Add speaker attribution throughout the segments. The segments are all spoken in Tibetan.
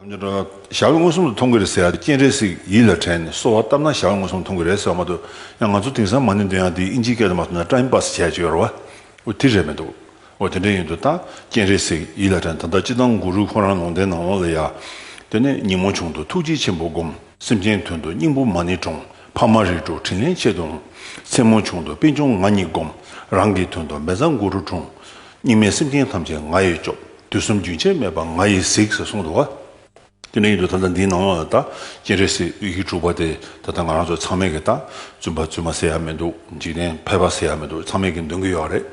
Speaker 1: ཞྭ་བས་མངོན་སུམ་དུ་མཐོང་གི་རེད་ཟེར་ཡ་སྐྱེན་རེད་ཟིག་ཡིད་ལ་དྲན་ནས་གསོལ་བ་བཏབ་ན་ཞྭ་བས་མངོན་སུམ་དུ་མཐོང་གི་རེད་ཟེར་བ་མ་གཏོགས་ཡང་ང་ཚོ་དེང་སང་མ་ནི་འདོན་ཡ་འདི་ཨིན་ཇིའི་སྐད་དུ་མ་གཏོགས་ན་ཀྲ་ཨིན་པ་སི་བྱས་བྱས་ཡོར་བ་འོ་དེ་རེད་མི་འདུག་འོ་དེ་འདྲས་ཡིན་འདུག་ད་སྐྱེན་རེད་ཟིག་ཡིད་ལ་དྲན་ད་ལྟ་སྤྱི་དང་གུ་རུས་ཁོ་རང་ལུང་བསྟན་ནང་ལོག་ལ་ཡ་དེ་ནས་ཉིན་མོ་བྱུང་འདུག་ཐུགས་རྗེ་ཆེན་པོ་སྒོམ། སེམས་ཅན་དོན་དུ་སྙིང་པོ་མ་ནི་དྲོངས་ཕ་མ་རིགས་དྲུག་དྲིན་ལན་ཆེད་དུ་འོང། མཚན་མོ་བྱུང་འདུག་པད་འབྱུང་ང་ཉིད་སྒོམ། རང་གི་དོན་དུ་མེ་བཟང་གུ་རུ་དྲུངས། སྙིགས་མའི་སེམས་ཅན་ཐམས་ཅད་ང་ཡིས་སྐྱོབ། དུས་གསུམ་རྒྱུན་ཆད་མེད་པར་ང་ཡིས་གཟིགས་ཟེར་གསུངས་འདུག་བ། དེ་ནས་ཡུན་དུ་ད་ལྟ་འདིའི་ནང་ལ་ད་སྤྱན་རས་གཟིགས་དབྱིག་གཞུག་དྲུག་པ་དེ་ད་ལྟ་ང་རང་ཚོ་ཚང་མས་ཀྱི་ད་བཙུན་པ་བཙུན་མ་ཟེར་ཡག་མི་འདུག་འཇིག་རྟེན་ཕལ་པ་ཟེར་ཡག་མི་འདུག་ཚང་མས་ཀྱི་འདོན་གྱི་ཡོད་རེད།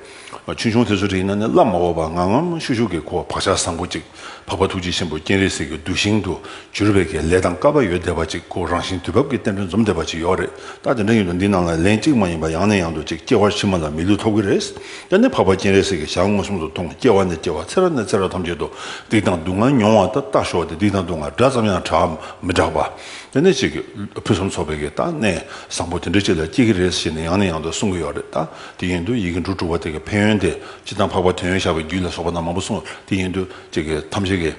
Speaker 1: ཆུང་ཆུང་དེ་ཚོ་རིག་ན་ནི་བླ་མ་འོག་པ་ངམ་ངམ་ཤུག་ཤུག་གི་ཁོ་བག་ཆགས་བཟང་པོ་ཅིག་འཕགས་པ་ཐུགས་རྗེ་ཆེན་པོ་སྤྱན་རས་གཟིགས་ཀྱི་གདུལ་ཞིང་དུ་གྱུར་པའི་ཀྱི་ལས་དང་དཀའ་བ་ཡོད་བསྡད་པ་ཅིག་ཁོ་རང་བཞིན་དུས་བབ་ཀྱི་རྟེན་འབྲེལ་འཛོམས་བསྡད་པ་ཅིག་ཡོད་རེད་ད་དེ་འདྲ་ཡུན་དུ་འདིའི་ནང་ལ་ལན་གཅིག་མ་ཡིན་པ་ཡང་ནས་ཡང་དུ་ཅིག་སྐྱེ་བར་ཕྱི་མ་ལ་མི་ལུས་ཐོབ་ཀྱི་རེད། དེ་ནས་འཕགས་པ་སྤྱན་རས་གཟིགས་ཀྱིས་ཞག་མངོན་སུམ་དུ་མཐོང་ངོ་སྐྱེ་བ་ནས་སྐྱེ་བར་ཚེ་རབས་ནས་ཚེ་རབས་ཐམས་ཅད་དུ་སྡིག་དང་སྡུག་བསྔལ་མྱོང་བ་དང་བརྟགས་ཞོག་དེ་སྡིག་དང་སྡུག་བསྔལ་སྒྲ་ཙམ་ཡང་གྲག་འམ་མི་གྲག་པ། དེ་ནས་ཅིག་ཕུན་སུམ་ཚོགས་པའི་གིས་ད་ནས་བཟང་པོ་དེ་འདྲའི་ཅིག་ལ་སྐྱེ་གི་རེད་ཞེས་ནས་ཡང་ནས་ཡང་དུ་གསུང་གི་ཡོད་རེད་ད་དེ་ཡིན་དུ་ཡི་གེ་འབྲུ་དྲུག་པ་དེ་གི་ཕན་ཡོན་དེ་སྤྱི་དང་འཕགས་པ་དོན་ཡོད་ཞགས་པའི་རྒྱུད་ལ་སོགས་པ་རྣམས་མང་པོ་གསུངས་དེ་ཡིན་དུ་ཅིག་གིས་ཐམས་ཅད་ཀྱི།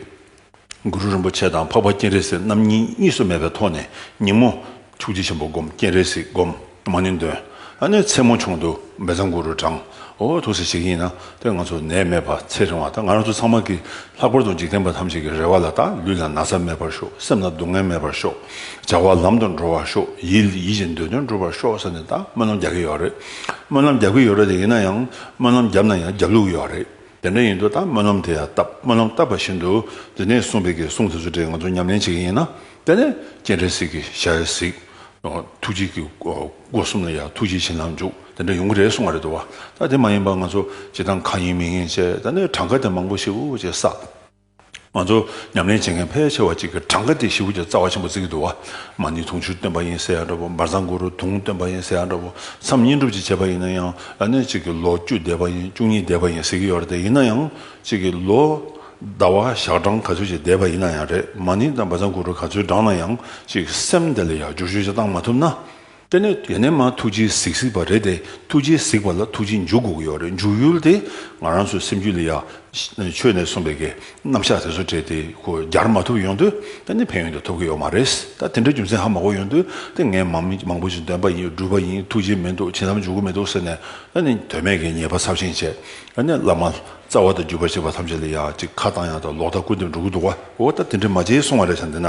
Speaker 1: གུ་རུ་རིན་པོ་ཆེ་དང་འཕགས་པ་སྤྱན་རས་གཟིགས་རྣམ་གཉིས་གཉིས་སུ་མེད་པའི་ཐོག་ནས་ཉིན་མོ། ཐུགས་རྗེ་ཆེན་པོ་བསྒོམ་སྤྱན་རས་གཟིགས་བསྒོམ། མ་ནི་འདོན། ཨ་ནི་མཚན་མོ་ཆུང་དུ་འབེ་ཚང་གུ་རུ་བགྲང། ཨོ་ཐུགས་སྲས་ཞིག་ཡིན་ན་དེ་ང་ཚོ་ནད་མེད་པར་ཚེ་རིང་བ་དང་ང་རང་ཚོ་ཚང་མ་གི་ལྷག་པར་དུ་འཇིག་རྟེན་པ་ཐམས་ཅད་ཀྱི་རེ་བ་ལ་དང་ལུས་ལ་ན་ཚ་མེད་པར་ཤོག་སེམས་ལ་སྡུག་བསྔལ་མེད་པར་ཤོག་བྱ་བ་ལམ་དུ་འགྲོ་བར་ཤོག་ཡིད་ལ་ཡིད་བཞིན་འདོད་དོན་འགྲུབ་པར་ཤོག་ས་ནས་ད་སྨོན་ལམ་རྒྱག་གི་ཡོད་རེད་སྨོན་ལམ་རྒྱག་གི་ཡོད་རེད་དེ་ཡིན་ན་ཡང་སྨོན་ལམ་བརྒྱབ་ན་ཡང་རྒྱབ་ལུགས་ཡོད་རེད། དེ་འདྲ་ཡིན་དུས་ད་སྨོན་ལམ་དེ་ཡང་བཏབ་སྨོན་ལམ་བཏབ་པ་བཞིན་དུ་འདི་ནས་གསུངས་པའི་གི་གསུང་དེ་ཚོ་དེ་ང་ཚོ་ཉམས་ལེན་བྱེད་ཀྱི་ཡིན་ན་དེ་ནས་སྤྱན་འདྲེན་ཟིག་གི་ཞལ་གཟིགས། ཐུགས་རྗེ་གི་སྒོ་གསུམ་ལ་ཡང་ཐུགས་རྗེ་ཆེ་ལ་འཇུག་དེ་འདྲ་ཡོང་གི་རེད་གསུངས་པ་རེད་འདུག་བ་ད་དེ་མ་ཡིན་པར་ང་ཚོ་བྱེད་སྟངས་གང་ཡིན་མིན་ཡིན་བྱས་ད་ནས་གྲངས་ཀ་དེ་མང་པོ་ཞིག་འུ་ཅེ་ས། ང་ཚོ་ཉམས་ལེན་བྱེད་མཁན་ཕལ་ཆེ་བ་གཅིག་གིས་གྲངས་ཀ་དེ་བཞི་བོ་ཀྱི་རྩ་བ་ཆེན་པོ་བརྩི་གི་འདུག་བ་མ་ནི་དུང་ཕྱུར་བཏོན་པ་ཡིན་ཟེར་ཡང་འདྲ་བོ་འབར་ཚང་གུ་རུ་དུང་བཏོན་པ་ཡིན་ཟེར་ཡང་འདྲ་བོ་མཚམས་བསྙེན་སྒྲུབ་ཅིག་བྱས་པ་ཡིན་ན་ཡང་ལ་གནས་གཅིག་གིས་ལོ་བཅུ་འདས་པ་ཡིན་བཅུ་གཉིས་འདས་པ་ཡིན་ཟེར་གི་ཡོད་རེད་དེ་ཡིན་ན་ཡང་གཅིག་གིས་ལོ་ཟླ་བ་ཞག་གྲངས་ག་ཚོད་ཅིག་འདས་པ་ཡིན་ན་ཡང་རེད་མ་ནི་ད་འབར་ཚང་གུ་རུ་ག་ཚོད་བགྲངས་ན་ཡང་གཅིག་སེམས་དེ་ལ་ཡག་འགྱུར་ཤུགས་ཆེ་བཏང་མ་ཐུབ་ན། དཔེར་ན་དེ་ནས་མ་ཐུགས་རྗེའི་གཟིགས་གཟིགས་པ་རེད་དེ་ཐུགས་རྗེའི་གཟིགས་པ་ལ་ཐུགས་རྗེ་འཇུག་དགོས་ཀྱི་ཡོད་རེད་འཇུག་ཡུལ་དེ་ང་རང་ཚོའི་སེམས་རྒྱུད་ལ་ཡང་ཆོས་ནས་གསུངས་པའི་གི་རྣམ་གཞག་དེ་ཚོ་བྲིས་ཏེ་གོ་རྒྱར་མ་ཐུབ་ཡོང་དུས་ད་ནི་ཕན་ཡོན་དུ་ཐོབ་ཀྱི་ཡོད་མ་རེད་ད་དེ་འདྲའི་རྒྱུ་མཚན་ཧ་མ་གོ་ཡོང་དུས་དེ་ངས་མང་པོ་ཞིག་འདོན་པ་ཡིན་བསྒྲུབས་པ་ཡིན་ཐུགས་རྗེ་མི་འདུག་བྱིན་རླབས་འཇུག་གི་མི་འདུག་ཟེར་ནས་ད་ནི་དོན་མེད་ཀྱི་ཉེས་པ་ཚབས་ཆེན་བྱས་ད་ནི་བླ་མ་རྩ་བ་དང་བརྒྱུད་པ་བྱེད་པ་ཐམས་ཅད་ལ་ཡང་ཅིག་ཁ་བཏང་ཡང་དག་ལོག་ལྟ་ཀུན་ཏུ་འགྲོ་གི་འདུག་གོ་ད་དེ་འདྲའི་མ་བྱེད་གསུངས་བ་རེད་བསམ་དེ་ན།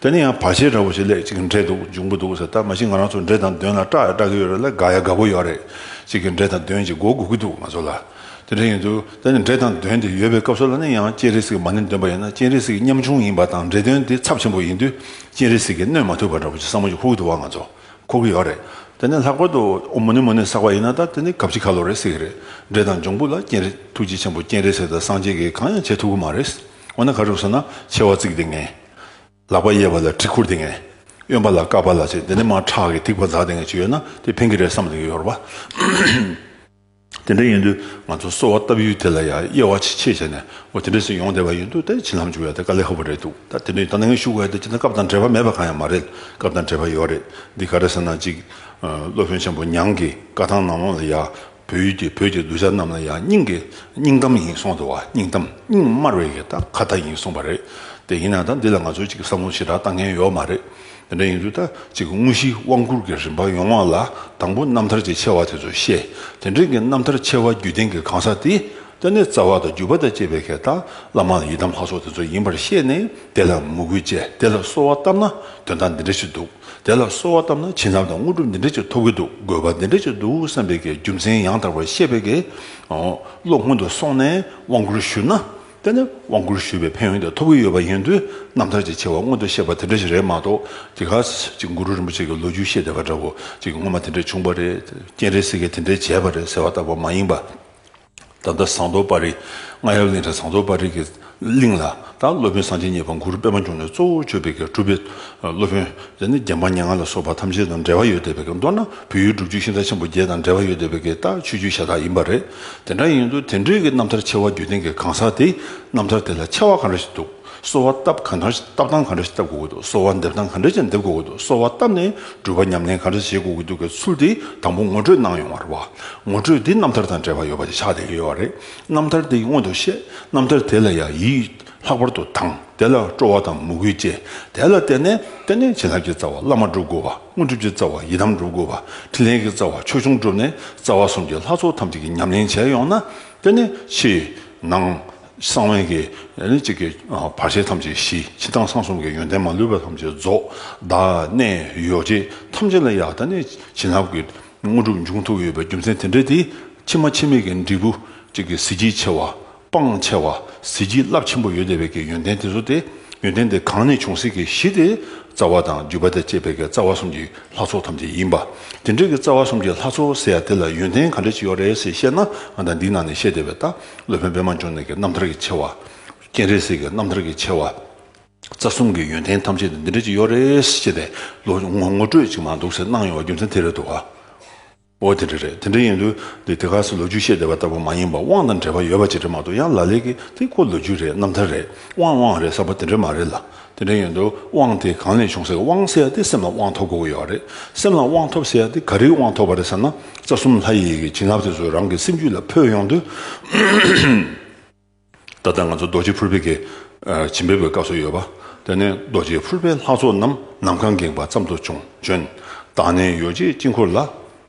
Speaker 1: དེ་ནས་ཡང་བར་ཆད་འདྲ་བོ་ཞིག་ལས་ཅིག་འདྲེ་འདུག་འབྱུང་པོ་འདུག་ཟེར་ད་མ་གཞི་ང་རང་ཚོ་འདྲེ་དང་གདོན་ལ་སྐྲག་ཡ་སྐྲག་གི་ཡོད་རེད་ལ་དགའ་ཡ་དགའ་པོ་ཡོད་རེད་ཅིག་གིས་འདྲེ་དང་གདོན་གྱིས་མགོ་སྒུར་གི་འདུག་ང་ཚོ་ལ། དེ་འདྲ་ཡིན་དུས་ད་ནི་འདྲེ་དང་གདོན་དེ་ཡོད་པའི་སྐབས་སུ་ལ་ནི་ཡང་སྤྱན་རས་གཟིགས་མ་ནི་འདོན་པ་ཡིན་ན་སྤྱན་རས་གཟིགས་ཉམ་ཆུང་ཡིན་པ་དང་འདྲེ་གདོན་དེ་ཚབས་ཆེན་པོ་ཡིན་དུས་སྤྱན་རས་གཟིགས་ཀྱིས་གནོད་མ་ཐུབ་པ་འདྲ་བོ་ཅིག་བསམ་བློ་ཅིག་ཧུར་དུ་བ་ང་ཚོ་འཁོར་གི་ཡོད་རེད་དེ་ནས་ལྷག་པར་དུ་ཨོ་མོ་ནི་མོ་ནི་བསགས་པ་ཡིན་ན་ད་དེ་ནི་གབ་ཅིག་ཁ་ལོ་རེད་ཟེར་གི་རེད་འདྲེ་དང་འབྱུང་པོ་ལ་སྤྱན་རས་ཐུགས་རྗེ་ཆེན་པོ་སྤྱན་རས་གཟིགས་དང་སངས་རྒྱས་ཀྱིས་གང་ཡང་བྱེད་ཐུབ་གི་མ་རེད། འོ་ན་ག་རུ་སོང་ན་མཆེ་བ་གཙིགས་ཏེ་ངན། ལག་པ་གཡས་པ་ལ་གྲི་ཁུར་ཏེ་ངན། གཡོན་པ་ལ་བཀག་པ་ལ་བྱེད་དེ་ནས་མ་ཁྲག་གིས་ཐིགས་པ་འཛག་ཏེ་ངན་ཅིག་ཡོད་ན་དེ་ཕན་གི་རེད་བསམ་ཏེ་ཡོར་བ། དེ་འདྲ་ཡིན་དུས་ང་ཚོ་གསོལ་བ་བཏབ་ཡུལ་དེ་ལ་ཡང་དབྱེ་བ་ཆེས་ཆེ་བྱས་ནས་འོ་དེ་འདྲས་སུ་ཡོང་བསྡད་པ་ཡིན་དུས་ད་བྱིན་ལྷམ་འཇུག་ཡ་དེ་དཀའ་ལས་ཧ་པོ་རེད་འདུག་ད་དེ་འདྲས་ཡོད་ད་ནང་ངས་ཞུ་དགོས་ཡ་དེ་སྤྱིར་ན་སྐབས་དང་འབྲེལ་བ་མེད་པ་གང་ཡང་མ་རེད་སྐབས་དང་འབྲེལ་བ་ཡོད་རེད་འདི་ག་རེ་ཟེར་ན་ཅིག། སློབ་དཔོན་ཆེན་པོ་ཉང་གི་བཀའ་ཐང་ནང་ལོང་ལ་ཡ། བོད་ཡུལ་གྱི་བོད་ཀྱི་གདུལ་བྱ་རྣམས་ལ་ཡང་སྙིང་གི་སྙིང་གཏམ་ཡིན་གསུངས་སོང་བ་སྙིང་གཏམ་སྙིང་དམར་བའི་ཡི་དྭགས་ཁ་བརྡ་ཡིན་གསུངས་པ་རེད་དེ་ཡིན་ན་ད་འདི་ལ་ང་ཚོས་ཅིག་བསམ་བློ་ཞེ་དྲག་བཏང་མཁན་ཡོད་མ་རེད་དེ་འདྲ་ཡིན་དུས་ད་ཅིག་དངོས་གཞིའི་དབང་བསྐུར་གྱི་རིམ་པ་ཡོངས་ལ་དང་པོ་རྣམ་ཐར་གྱི་ཆེ་བ་དེ་ཚོ་བཤད་དེ་འབྲེལ་གྱི་རྣམ་ཐར་ཆེ་བ་བརྒྱུད་ལྡན་གྱི་གང་ཟག་དེ་ད་ནི་རྩ་བ་དང་བརྒྱུད་པ་དང་བཅས་པའི་གད་དང་བླ་མ་ཡི་དམ་ལྷ་ཚོགས་དེ་ཚོ་ཡིན་པར་བཤད་ནས་དེ་ལ་མོས་གུས་བཅས་དེ་ལ་གསོལ་བ་བཏབ་ན་དོན་དག་འདི་འདྲ་ཞིག་འདུག། དེ་ལ་གསོལ་བ་བཏབ་ན་བྱིན་རླབས་དང་དངོས་གྲུབ་འདི་འདྲ་ཅིག་ཐོབ་ཀྱི་འདུག་དགོས་པ་འདི་འདྲ་ཅིག་འདུག་བསམ་པའི་གྱི་རྒྱུ་མཚན་ཡང་དག་པར་བཤད་པའི་གི། བློ་སྔོན་དུ་སོང་ནས་དབང་བསྐུར་ཞུས་ན། དེ་ནི་དབང་བསྐུར་ཞུས་པའི་ཕན་ཡོན་དེ་ཐོབ་ཀྱི་ཡོད་པ་ཡིན་དུས་རྣམ་ཐར་གྱི་ཆེ་བ་སྔོན་དུ་བཤད་པ་དེ་འདྲ་ཞིག་རེད་མ་གཏོགས་ཀྱི་གཱ། ཅིག་གུ་རུ་རིན་པོ་ཆེ་གི་ལོ་རྒྱུས་བཤད་བསྡད་པ་འདྲ་བོ། ཅིག་སྔོན་མ་དེ་འདྲ་བྱུང་བ་རེད། རྐྱེན་རེ་ཟིག་གིས་དེ་འདྲ་བྱས་པ་རེད་ཟེར་བ་ལྟ་བུ་མ་ཡིན་པ། ད་ལྟ་ཟངས་མདོག་དཔའ་རིས་རྔ་ཡབ་གླིང་ཁྲི་ཟངས་མདོག་དཔའ་རིས་ཀྱི་གླིང་ལ་དང་སློབ་དཔོན་གསང་ཆེན་གཉིས་པ་གུ་རུ་པདྨ་འབྱུང་གནས་གཙོ་བོར་མཆོད་པའི་གར་སྒྲུབ་པའི་སློབ་དཔོན་དེ་ནི་རྒྱལ་འབངས་སྙན་ངག་ལ་སོགས་པ་ཐམས་ཅད་དང་འབྲེལ་བ་ཡོད་བསྡད་པའི་མདོར་ན་བོད་ཡུལ་སྒྲུབ་བརྒྱུད་ཤིང་རྟ་ཆེན་པོ་བརྒྱད་དང་འབྲེལ་བ་ཡོད་བསྡད་པའི་ལྟ་ཆོས་རྒྱུད་ཤ་སྟག་ཡིན་པ་རེད་དེ་འདྲ་ཡིན་དུས་དེ་འབྲེལ་གྱི་རྣམ་ཐར་ཆེ་བ་བརྒྱུད་ལྡན་གྱི་གང་ཟག་དེའི་རྣམ་ཐར་དེ་ལ་ཆེ་བ་གང་རེ་ཞིག་འདུག་གསོལ་བ་བཏབ་གང་འདྲ་བཏབ་སྟངས་གང་འདྲ་ཞིག་བཏབ་དགོས་ཀྱི་འདུག་གསོལ་བ་འདེབས་སྟངས་གང་འདྲ་ཞིག་འདེབས་དགོས་ཀྱི་འདུག་གསོལ་བ་བཏབ་ནས་སྒྲུབ་པ་ཉམས་ལེན་གང་འདྲ་ཞིག་བྱེད་དགོས་ཀྱི་འདུག་གི་ཚུལ་དེ་དང་པོ་ངོ་སྤྲོད་གནང་ཡོང་བ་རེད་བ། ངོ་སྤྲོད་འདི་རྣམ་ཐར་དང་འབྲེལ་བ་ཡོད་པ་དེ་ཆགས་བསྡད་ཡོད་བ་རེད། རྣམ་ཐར་འདི་སྔོན་དུ་བཤད་རྣམ་ཐར་དེ་ལ་ཡང་ཡིད་ལྷག་པར་དུ་དང་དེ་ལ་སྤྲོ་བ་དང་མོས་གུས་བཅས་དེ་ལ་བརྟེན་ནས་བརྟེན་ནས་བྱིན་རླབས་ཀྱི་རྩ་བ་བླ་མ་བསྒྲུབ་དགོས་བ་དངོས་གྲུབ་ཀྱི་རྩ་བ་ཡི་དམ་བསྒྲུབ་དགོས་བ་ཕྲིན་ལས་ཀྱི་རྩ་བ་ཆོས་འབྱུང་བསྒྲུབས་ནས་རྩ་བ་གསུམ་གྱི་ལྷ་ཚོགས་ཐམས་ཅད་ཀྱི་ཉམས་ལེན་བྱས་ཡོང་ན་དེ་ནི་ཕྱི་ནང། གསང་བའི་གེགས་ནི་གཅིག་གི་བར་ཆད་ཐམས་ཅད་ཞི། ཕྱི་དང་གསང་གསུམ་གྱི་ཡོན་ཏན་མ་ལུས་པ་ཐམས་ཅད་རྫོགས། བདག་གནས་ཡོ་བྱད་ཐམས་ཅད་ལ་ཡང་དག་ནི་བྱིན་རླབས་ཀྱི་དངོས་གྲུབ་འབྱུང་ཐུག་ཡོད་པའི་རྒྱུ་མཚན་དེ་འདྲ་དེ། ཕྱི་མ་ཕྱི་མེད་ཀྱི་འབྲས་བུ་གཅིག་གི་གཟི་བརྗིད་ཆེ་བ། སྤང་བྱ་བ་གཟི་བརྗིད་རླབས་ཆེན་པོ་ཡོད་དེ་བས་ཀྱི་ཡོན་ཏན་དེ་ཚོ་སྟེ། ཡོན་ཏན་དེ་གང་ནས་བྱུང་སྲིད་ཀྱི་གཞི་དེ། རྩ་བ་དང་བརྒྱུད་པ་དང་བཅས་པས་ཀྱི་རྩ་བ་གསུམ་གྱི་ལྷ་ཚོགས་ཐམས་ཅད་ཡིན་པ། དེ་འདྲ་གི་རྩ་བ་གསུམ་གྱི་ལྷ་ཚོགས་ཟེར་ཡ་དེ་ལ་ཡོན་ཏན་ག་འདྲ་ཅིག་ཡོད་རེད་ཟེར་བཤད་ན་ང་དང་འདི་ནང་ནས་བཤད་བདེ་བའི་རྟགས། སློབ་དཔོན་པད་མ་འབྱུང་གནས་ཀྱི་རྣམ་ཐར་གྱི་ཆེ་བ། སྤྱན་རས་གཟིགས་ཀྱི་རྣམ་ཐར་གྱི་ཆེ་བ། རྩ་གསུམ་གྱི་ཡོན་ཏན་ཐམས་ཅད་དུ་འདི་འདྲ་ཅིག་ཡོད་རེད་ཅེས་པའི་ལོ་ངོ་ངོ་སྤྲོད་ཅིག་མ་འདུག་ཟེར་སྣང་ཡོང་བ་རྒྱུ་མཚན་དེ་རེད་འདུག་ག། འོ་དེ་འདྲ་རེད་དེ་འདྲ་ཡིན་དུས་འདི་དེ་ག་སོགས་ལོ་རྒྱུས་བཤད་བསྡད་པ་ལྟ་བུ་མ་ཡིན་པར་དབང་དང་འབྲེལ་བ་ཡོད་པ་ཅིག་རེད་མ་གཏོགས་ཡང་ལ་ལས་ཀྱི་དེ་ཁོ་ལོ་རྒྱུས་རེད་རྣམ་ཐར་རེད་དབང་དབང་རེད་བསམ་པ་དེ་འདྲ་མ་རེད་ལ། དེ་འདྲ་ཡིན་དུས་དབང་དེ་གང་ནས་བྱུང་ཟེར་དབང་བསལ་ཏེ་སེམས་ལ་དབང་ཐོབ་དགོས་ཀྱི་ཡོད་རེད། སེམས་ལ་དབང་ཐོབ་ཟེར་ཏེ་ག་རེའི་དབང་ཐོབ་པ་རེད་ཟེར་ན་རྩ་གསུམ་ལྷ་ཡི་ཡི་གེ་བྱིན་རླབས་དེ་ཚོ་རང་གི་སེམས་རྒྱུད་ལ་འཕོས་ཡོང་དུས། ད་ལྟ་ང་ཚོ་རྡོ་རྗེ་ཕུར་པའི་གི་བྱིན་འབེབས་པའི་སྐབས་སུ་ཡོད་པ། དེ་ནི་རྡོ་རྗེ་ཕུར་པའི་ལྷ་ཚོགས་རྣམས་ནམ་མཁའ་འགེངས་པ་ཙམ་དུ་བྱུང་བྱོན། བདག་ནི་ཡོ་བྱད་དཀྱིལ་འཁོར་ལ།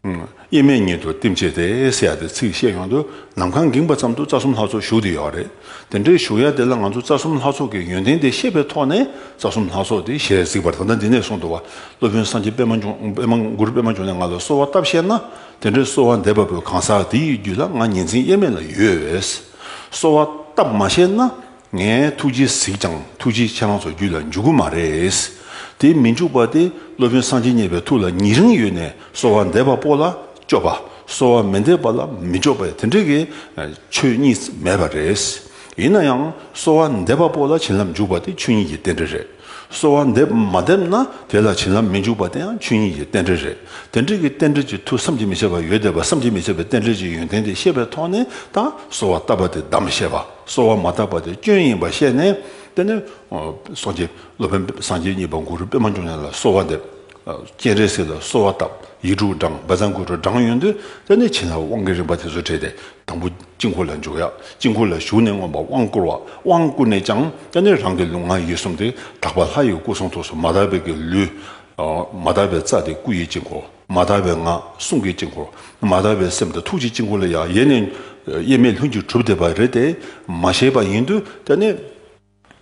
Speaker 1: དབྱེར་མེད་ཉིད་དུ་བསྟིམ་བྱས་ཏེ་ཟེར་ཡ་དེ་ཚིག་བཤད་ཡོང་དུས་ནམ་མཁའ་འགེངས་པ་ཙམ་དུ་རྩ་གསུམ་ལྷ་ཚོགས་བཞུགས་དེ་ཡོད་རེད། དེ་འདྲའི་བཞུགས་ཡ་དེ་ལ་ང་ཚོ་རྩ་གསུམ་ལྷ་ཚོགས་ཀྱི་ཡོན་ཏན་དེ་ཤེས་པའི་ཐོག་ནས་རྩ་གསུམ་ལྷ་ཚོགས་དེ་ཞེས་གཟིགས་པར་ད་ལྟ་འདི་ནས་གསུང་དུ་བ་སློབ་དཔོན་སངས་རྒྱས་པདྨའགུར་པདྨ་འབྱུང་གནས་ང་ལ་གསོལ་བ་བཏབ་བཤད་ན་དེ་འདྲའི་གསོལ་བ་འདེབས་པ་པོའི་གང་ཟག་དེའི་རྒྱུད་ལ་ང་ཉིན་མཚན་དབྱེར་མེད་ལ་ཡོད་བས། གསོལ་བ་བཏབ་མ་བཤད་ན་ངས་ཐུགས་རྗེ་གཟིགས་ཀྱང་ཐུགས་རྗེ་ཁྱེད་རང་ཚོ་རྒྱུད་ལ་འཇུག་གི་མ་རེད། དེ་མི་འཇུག་པ་དེ་སློབ་དཔོན་སངས་རྒྱས་མཉེས་པའི་ཐུགས་ལ་ཉིད་རིང་ཡོད་ནས་གསོལ་བ་འདེབས་པ་པོ་ལ་སྐྱོབ་པ་གསོལ་བ་མི་འདེབས་པ་ལ་མི་སྐྱོབ་པ་དེ་འདྲ་གི་ཆོས་གཉིས་མེད་པ་རེད། ཡིན་ན་ཡང་གསོལ་བ་འདེབས་པ་པོ་ལ་བྱིན་རླབས་འཇུག་པ་དེ་ཆོས་ཉིད་ཀྱི་རྟེན་འབྲེལ་རེད། གསོལ་བ་འདེབས་མ་འདེབས་ན་དེ་ལ་བྱིན་རླབས་མི་འཇུག་པ་དེ་ཡང་ཆོས་ཉིད་ཀྱི་རྟེན་འབྲེལ་རེད། དེ་འདྲ་གི་རྟེན་འབྲེལ་གྱི་མཐུ་བསམ་གྱིས་མི་ཁྱབ་པ་ཡོད་དེ་བསམ་གྱིས་མི་ཁྱབ་པའི་རྟེན་འབྲེལ་གྱི་ཡོན་ཏན་དེ་ཤེས་པའི་ཐོག་ནས་ད་གསོལ་བ་བཏབ་པ་དེ་གདམས་པ་བཤད་པ། གསོལ་བ་མ་བཏབ་པ་དེ་སྐྱོན་ཡིན་པར་ཤེས་ནས། དེ་ནས། སོ་སྐྱེ། སློབ་དཔོན་པདྨ་སངས་རྒྱས་གཉིས་པ་གུ་རུ་པདྨ་འབྱུང་གནས་ལ་གསོལ་བ་འདེབས། སྤྱན་རས་གཟིགས་ལ་གསོལ་བ་བཏབ། ཡིག་དྲུག་བགྲངས་འབེལ་ཚང་གུ་རུ་བགྲང་ཡོད་འདུག་དེ་ནས་བྱིན་རླབས་དབང་གི་རིམ་པ་དེ་ཚོ་བྲིས་ཏེ། དང་པོ་དཀྱིལ་འཁོར་ལ་འཇུག་ཡ། དཀྱིལ་འཁོར་ལ་ཞུགས་ནས་མངོན་པར་དབང་བསྐུར་བ། དབང་བསྐུར་ནས་ཀྱང། དེ་ནས་རང་གི་ལུས་ངག་ཡིད་གསུམ་སྟེ། དག་པ་ལྷ་ཡི་སྐུ་གསུང་ཐུགས་སུ་མ་དག་པའི་གི་ལུས། མ་དག་པའི་རྩ་དེ་སྐུ་ཡི་དཀྱིལ་འཁོར། མ་དག་པའི་ངག་གསུང་གི་དཀྱིལ་འཁོར། མ་དག་པའི་སེམས་དང་ཐུགས་ཀྱི་དཀྱིལ་འཁོར་ལ་ཡང་ཡེ་ནས་དབྱེར་མེད་ལྷུན་གྱིས་གྲུབ་བསྡད་པ་རེད་དེ། མ་ཤེས་པ་ཡིན་དུས་དེ་ནི།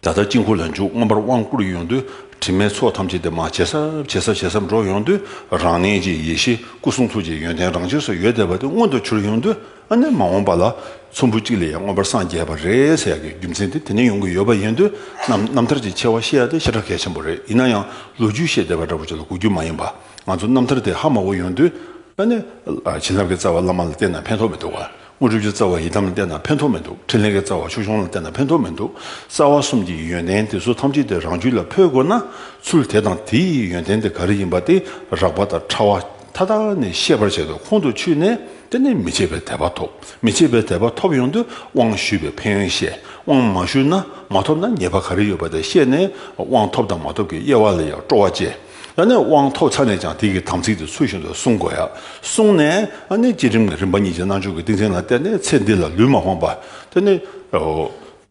Speaker 1: ད་ལྟར་དཀྱིལ་འཁོར་ལ་འཇུག་མངོན་པར་དབང་བསྐུར་ཡོང་དུས་དྲི་མའི་ཚོགས་ཐམས་ཅད་དེ་མ་ཇེ་ཟབ་ཇེ་ཟབ་ཇེ་ཟབ་འགྲོ་ཡོང་དུས་རང་གནས་ཀྱི་ཡེ་ཤེས་སྐུ་གསུང་ཐུགས་ཀྱི་ཡོན་ཏན་རང་ཆས་སུ་ཡོད་བསྡད་པ་དེ་མངོན་དུ་གྱུར་ཡོང་དུས་ཨ་ནི་མ་འོངས་པ་ལ་ཚོམ་བུ་གཅིག་ལས་ཡང་མངོན་པར་སངས་རྒྱས་པ་རེད་ཟེར་ཡག་གི་རྒྱུ་མཚན་དེ་དེ་ནས་ཡོང་གི་ཡོད་པ་ཡིན་དུས་རྣམ་ཐར་གྱི་ཆེ་བ་ཤེས་ཡ་དེ་ཤ་ཁྲག་གལ་ཆེན་པོ་རེད་ཡིན་ན་ཡང་ལོ་རྒྱུས་ཤེས་བསྡད་པ་འདྲ་པོ་ཅིག་ལ་གོ་རྒྱུ་མ་ཡིན་པ། ང་ཚོ་རྣམ་ཐར་དེ་ཧ་མང་བོ་ཡོང་དུས། ཨ་ནི། བྱིན་རླབས་ཀྱི་རྩ་བ་བླ་མ་ལ་བསྟེན་ན་ཕན་ཐོགས་མི་འདུག། དངོས་གྲུབ་ཀྱི་རྩ་བ་ཡི་དམ་ལ་བསྟེན་ན་ཕན་ཐོགས་མི་འདུག་འཕྲིན་ལས་ཀྱི་རྩ་བ་ཆོས་སྐྱོང་ལ་བསྟེན་ན་ཕན་ཐོགས་མི་འདུག་རྩ་བ་གསུམ་གྱི་ཡོན་ཏན་དེ་ཚོ་ཐམས་ཅད་དེ་རང་རྒྱུད་ལ་འཕོས་དགོས་ན། ཚུལ་དེ་དང་དེའི་ཡོན་ཏན་དེ་ག་རེ་ཡིན་པ་དེ་རགས་པ་དང་ཕྲ་བ་མཐའ་དག་ནི་ཤེས་པར་བྱས་ཏེ་ཁོང་དུ་ཆུད་ནས་དེ་ནི་མི་ཕྱེད་པའི་དད་པ་ཐོབ། མི་ཕྱེད་པའི་དད་པ་ཐོབ་ཡོང་དུས་དབང་ཞུས་པའི་ཕན་ཡོན་བཤད། དབང་མ་ཞུས་ན་མ་ཐོབ་ན་ཉེས་པ་ག་རེ་ཡོད་པ་དེ་ཤེས་ནས་དབང་ཐོབ་དང་མ་ཐོབ་ཀྱི་དབྱེ་བ་ལ་ཡང་སྤྲོ་བ་བསྐྱེད། ཡང་ན་དབང་ཐོབ་ཚར་ནས་ཀྱང་དེ་གའི་དམ་ཚིག་དེ་ཚུལ་བཞིན་དུ་བསྲུང་དགོས། བསྲུངས་ནས་ཡང་ན་བསྐྱེད་རིམ་གྱི་རིམ་པ་གཉིས་ཀྱི་རྣལ་འབྱོར་གྱི་ཏིང་འཛིན་ལ་བརྟེན་ནས་ཚེ་འདི་ལ་ལུས་མ་ཕངས་པ། དེ་ནི།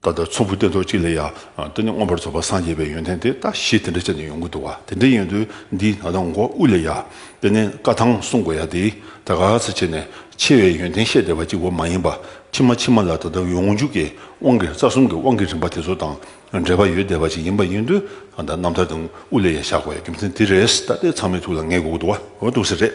Speaker 1: ད་ལྟར་ཚོམ་བུ་སྟེ་ཐོག་གཅིག་ལས་ཡང་དེ་ནི་མངོན་པར་རྫོགས་པར་སངས་རྒྱས་པའི་ཡོན་ཏན་དེ་ལྟ་ཞེས་དེ་འདྲའི་ཆ་ནས་ཡོངས་ཀྱི་འདུ་བ་དེ་འདྲའི་ཡོན་ཏན་འདི་ད་ལྟ་མགོ་དབུས་ལས་ཡང་དེ་ནི་བཀའ་ཐང་བསྲུང་དགོས་ཡང་དེས་ད་ག་ཚོད་བྱས་ནས་ཆེ་བའི་ཡོན་ཏན་བཤད་བསྡད་པ་གཅིག་པོ་མ་ཡིན་པ་ཕྱི་མ་ཕྱི་མ་ལ་ད་ལྟ་ཡོངས་འཇུག་གི་དབང་གི་རྩ་གསུམ་གྱི་དབང་གི་རིམ་པ་དེ་ཚོ་དང་འབྲེལ་བ་ཡོད་བསྡད་པ་ཞིག་ཡིན་པ་ཡིན་དུས་ད་རྣམ་ཐར་དང་དབུ་ལས་ཡང་བཞག་པའི་རྒྱུ་མཚན་དེ་རེད་ད་ལྟའི་ཚང་མའི་ཐུགས་ལ་ངེས་དགོས་ཀྱི་འདུག་བ་འདུག་ཟེར་རེད།